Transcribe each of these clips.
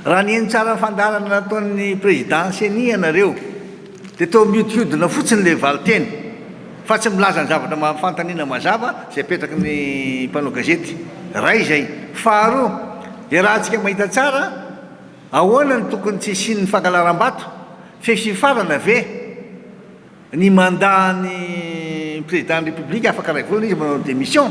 Raha nihaino tsara ny fandaharana nataon'ny Président Ceni ianareo dia toa mihodinkodina fotsiny ilay valinteny fa tsy milaza ny zavatra mampifantaniana mazava izay apetraky ny mpanao gazety iray izay. Faharoa, iarahantsika mahita tsara ahoana no tokony tsy hisian'ny fankalaram-bato, fefy hifarana ve? ny mandat ny président ny république afaka iray volana izy manao démission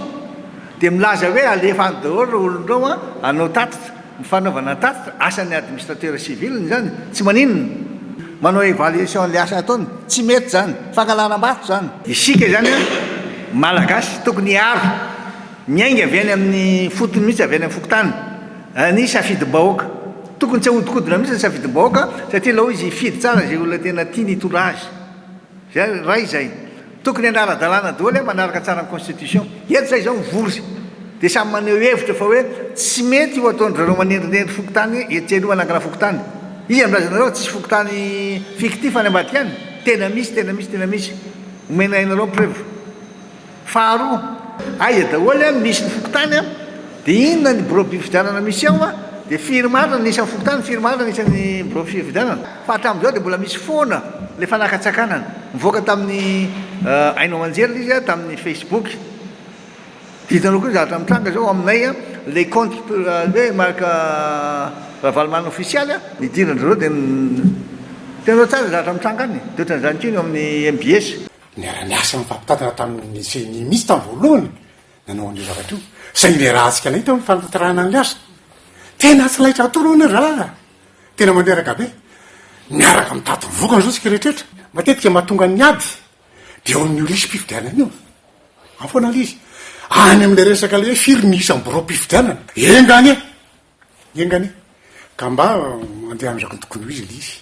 dia milaza hoe alefa any daholo ireo olondrao an hanao tatitra ny fanaovana tatitra asan'ny administrateur civil ny izany tsy maninona manao évaluation an'ilay asa ataony tsy mety izany fangalaram-bato izany isika izany an malagasy tokony hiaro miainga avy any amin'ny fotony mihitsy avy any amin'ny fokontany Ny safidim-bahoaka. Tokony tsy ahodikodina mihitsy ny safidim-bahoaka satria lao izy hifidy tsara izay olona tena tiany hitondra azy. Izay iray izay. Tokony any ara-dalàna daholo manaraka tsara ny constitution. Eto zay izao mivory dia samy maneho hevitra fa hoe tsy mety io ataon-dry zareo manendrinendry fokontany etsy aloha hanangana fokontany. Iza no milaza anareo fa tsisy fokontany fictif any ambadika any? Tena misy, tena misy, tena misy. Omena anareo ny preuve. Faharoa, aiza daholo an misy ny fokontany an, dia inona ny birao fifidianana misy ao an, dia firy marina ny isan'ny fokontany, firy marina ny isan'ny birao fifidianana, fa hatramin'izao dia mbola misy foana ilay fanakantsakanana, nivoaka tamin'ny haino aman-jery ilay izy an, tamin'ny facebook, dia hitanao koa ny zavatra mitranga izao aminay an, ilay kaonty hoe Marc Ravalomanana ofisialy an, nidiran-dry zareo dia, hitanao tsara ny zavatra mitranga any, dia ohatran'izany koa ny ao amin'ny mbs. Niara-niasa nifampitantana tamin'ny ceni mihitsy tamin'ny voalohany nanao an'io zavatra io, saingy niarahantsika anay teo ny fanatanterahana ny asa. Tena tsy laitra akory hono ny raharaha, tena mandreraka be. Miaraka mitady ny vokany izao isika rehetrrehetra. Matetika mahatonga ny ady dia eo amin'io lisi-pifidianana io. Ao foana ilay izy. Any amin'ilay resaka ilay hoe firy ny isan'ny biraom-pifidianana. Enga anie! Enga anie! Ka mba andehanan'ny rakontokony ho izy ilay izy.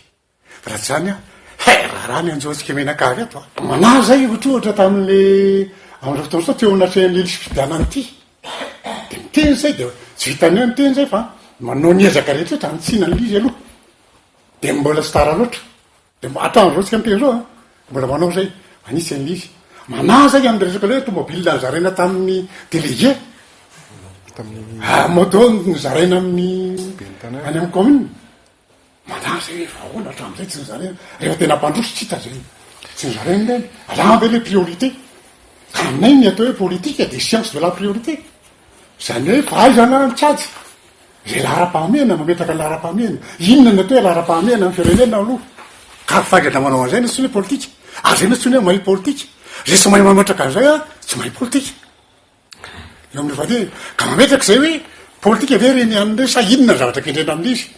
Raha tsy izany aho, hay raharaha ny anjoantsika mianakavy eto a! Manahy izay ohatra ohatra tamin'ilay andro fotoana teo anatrehan'ny lily sy fifidianana ity. Dia miteny izay dia tsy vitan'ny hoe miteny izay fa manao ny ezaka rehetra rehetra hanitsiana ny lily aloha. Dia mbola tsy tara loatra. Dia hatramin'izao isika miteny izao a, mbola manao izay, manitsy ny lily. Manahy izay amin'ny resaka hoe tomobilina nozaraina tamin'ny délégué, moto nozaraina amin'ny, any amin'ny commune. Madama zay rehefa ahoana hatramin'izay tsy ny zareo rehefa tena mpandroso tsy hita zay tsy ny zareo indray alama ve le priorité ka aminay ny atao hoe politika dia science de la priorité izany hoe fahaizana mitsajy zay laharam-pahamehana mametraka laharam-pahamehana inona ny atao hoe laharam-pahamehana ny firenena aloha ka faingana manao an'izay na tsy ny hoe politika ary zay na tsy ny hoe mahay politika zay tsy mahay mametraka an'izay a tsy mahay politika eo amin'ny fadiny ka mametraka izay hoe politika ve reny an'ireny sa inona ny zavatra kendrena amin'izy